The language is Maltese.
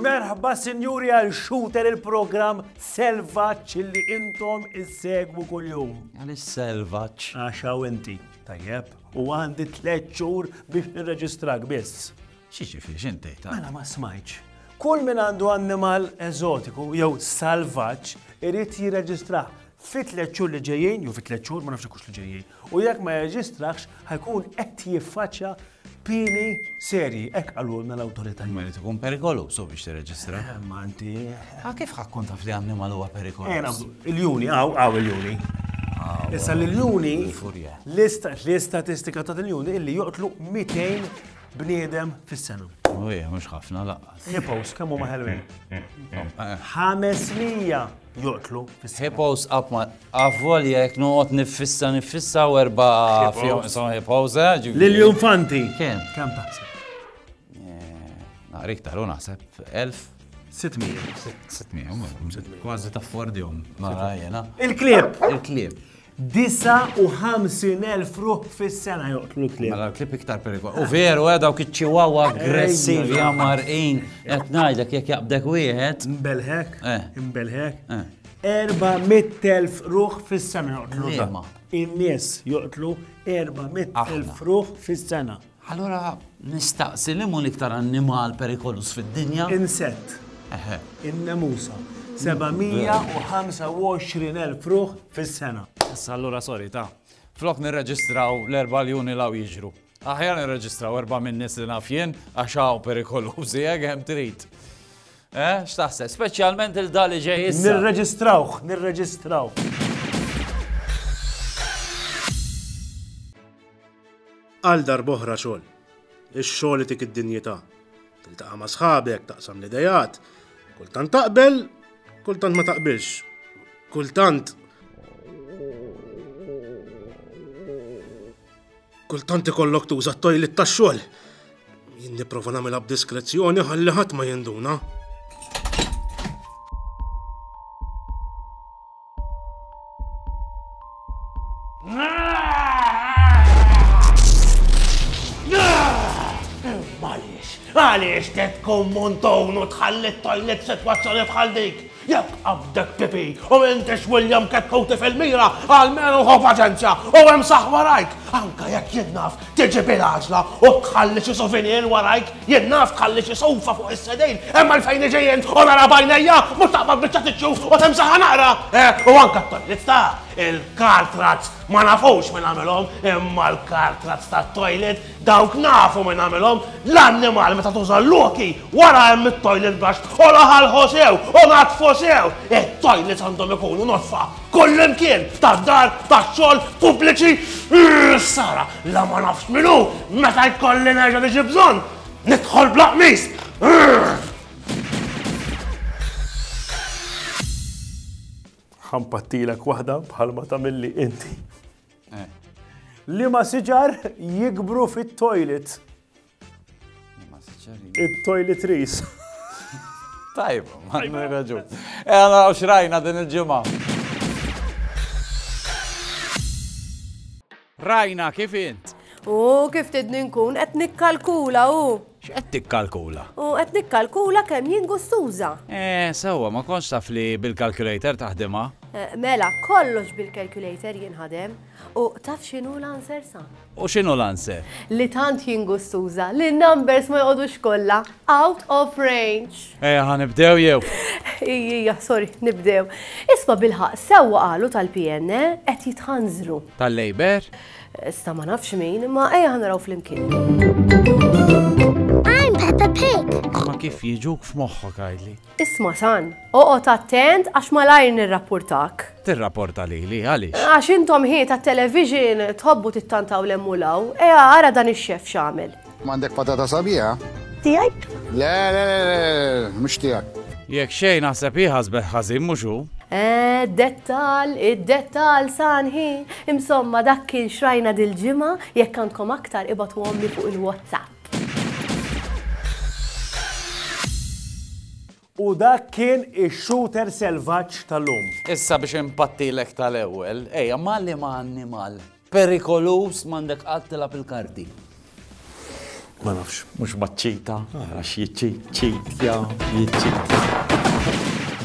Merħba sinjuri għal shooter il-program Selvaċ li intom issegwu kull-jum. Għal selvaċ Għaxaw inti, tajjeb, u għandi tlet xhur biex nirreġistrak biss. Xi ġifieri x'int tgħid? Mela ma smajtx. Kull min għandu annimal eżotiku jew salvaġġ irid jirreġistrah fi tliet xhur li ġejjin, jew fi tliet xhur ma nafx hekk li ġejjin. U jekk ma jirreġistrahx ħajkun qed jiffaċċja pieni serji, hekk qalulna l-awtoritajiet. Imma jrid ikun perikoluż hu biex tirreġistrah. Eh, ma inti. Ah, kif ħa tkun taf li annimal huwa perikoluż? Il-juni, għaw, għaw il-juni. Issa l-juni, l-istatistika ta' l-juni illi joqtlu 200 bniedem fis-sena. U hija mhux ħafna laqqas. Hippos kemm huma ħelwin? 500 joqtlu fis-sena. Hippos qatt ma avvolja jekk noqgħod niffissa niffissa u erba' fihom isom hippos. eh, ġifieri- Lill-infanti. Kemm? Kemm taħseb? Naqra iktar u naħseb 1000. 600. 600, kważi taffordihom. Mara jena. Il-klieb. Il-klieb. 59,000 ruħ fis-sena joqtlu l-klieb. Mela l-klieb iktar perikol. U veru, eh, dawk iċ-ċiwawa aggressivi ja marqin. Qed ngħidlek jekk jaqbdek wieħed. Imbelħek, eh. imbelħek. 400,000 eh. ruħ fis-sena joqtlu. In-nies joqtlu 400,000 ruħ fis-sena. Allura nistaqsi liema hu l-iktar annimal perikoluż fid-dinja? Insett. Eħe. In-nemusa. 725,000 ruħ fis-sena. Issa allura sorry ta. Flok nirreġistraw l-erba' ljuni law jiġru. Aħjar nirreġistraw erba' min-nies li naf jien għax hawn perikolużi hekk hemm trid. Eh, x'taħseb? Speċjalment il-dali ġej issa. Nirreġistrawh, nirreġistraw. Għal darb'oħra xogħol. Ix-xogħol itik id-dinjità. Tiltaqa' ma' sħabek, taqsam l-ideat. Kultant taqbel, kultant ma taqbilx. Kultant Kultant ikollok tuża t-tojlit tax-xogħol. Jien nipprova nagħmilha b'diskrezzjoni ħalli ħadd ma jinduna. Għaliex, għaliex tet kommontonu tħalli t-toilet situazzjoni bħal dik? Jekk qabdek pipi u m'intix William Kekkow tifel mira għal meruħ u paċenzja u hemm saħħ warajk, anke jekk jien naf tiġi bil-għaġla u tħalli xi souvenir warajk, jien naf tħalli xi soufa fuq is-sedejn, hemm għalfejn niġi jien u nara b'għajnejja mhux taqbad biċċa tiċċu u timsaħha naqra! Eh, u anke t-toilets ta' il-car trucks ma nafux min għamilhom imma l-car trucks tat-toilet Dawk nafu min għamilhom, l-annimal meta tuża l-luki, wara hemm it-toilet brush, u laħalħu sew, u natfu sew! It-toilets għandhom ikunu nodfa kullimkien, tad-dar, tax-xogħol, pubbliċi, ħsara la ma nafx min hu meta jkolli nerġa' niġi bżonn nidħol bla qmis! Ħa npattilek waħda bħalma tagħmilli inti. Liema siġar jikbru fit-toilet? Liema siġar? It-toiletries. Tajb, ma nirraġu. E għana għaw xrajna din il-ġimma. Rajna kif int? U kif tidni nkun qed nikkalkula u. X'qed tikkalkula? U qed nikkalkula kemm jien gustuża. Eh, sewwa, ma kontx taf li bil-calculator taħdimha? Mela, kollox bil-calculator jinħadem. U taf x'inhu l-answer, sa? U x'inhu l-answer? Li tant jien gustuża li n-numbers ma joqogħdux kollha out of range. Ejja, ħa nibdew jew? Ijja, sorry, nibdew. Isma' bilħaqq, sewwa qalu tal-PN, eh? Qed jitħanżlu. Tal-Labour? Issa ma nafx min, imma ejja ħanaraw flimkien. I'm Peppa Pig. Ma kif jiġuk f'moħħok għajli? Isma' san, oqgħod attent għax malajr nirrapportak. Tirrapporta lili għaliex? Għax intom ħiet tat-television tħobbu tittantaw l-hemm u l-hawn. Ejja ara dan ix-xef x'għamel. M'għandek patata sabiħa? Tiegħek? Le, le, le, le, mhux tiegħek. Jekk xejn naħseb hi ħasbet ħażin mhux hu. Eh, dettal, id-dettal sanħi. Imsomma dak kien xrajna dil-ġimgħa jekk għandkom aktar ibatu għomli fuq il-WhatsApp. U dak kien ix-shooter selvaġġ tal-lum. Issa biex inpattilek tal-ewwel, ejja ma' liema annimal perikoluż m'għandek qatt tilgħab il-karti? Ma nafx. Mhux maċ-ċita, għax jiċċitja, jiċċitja.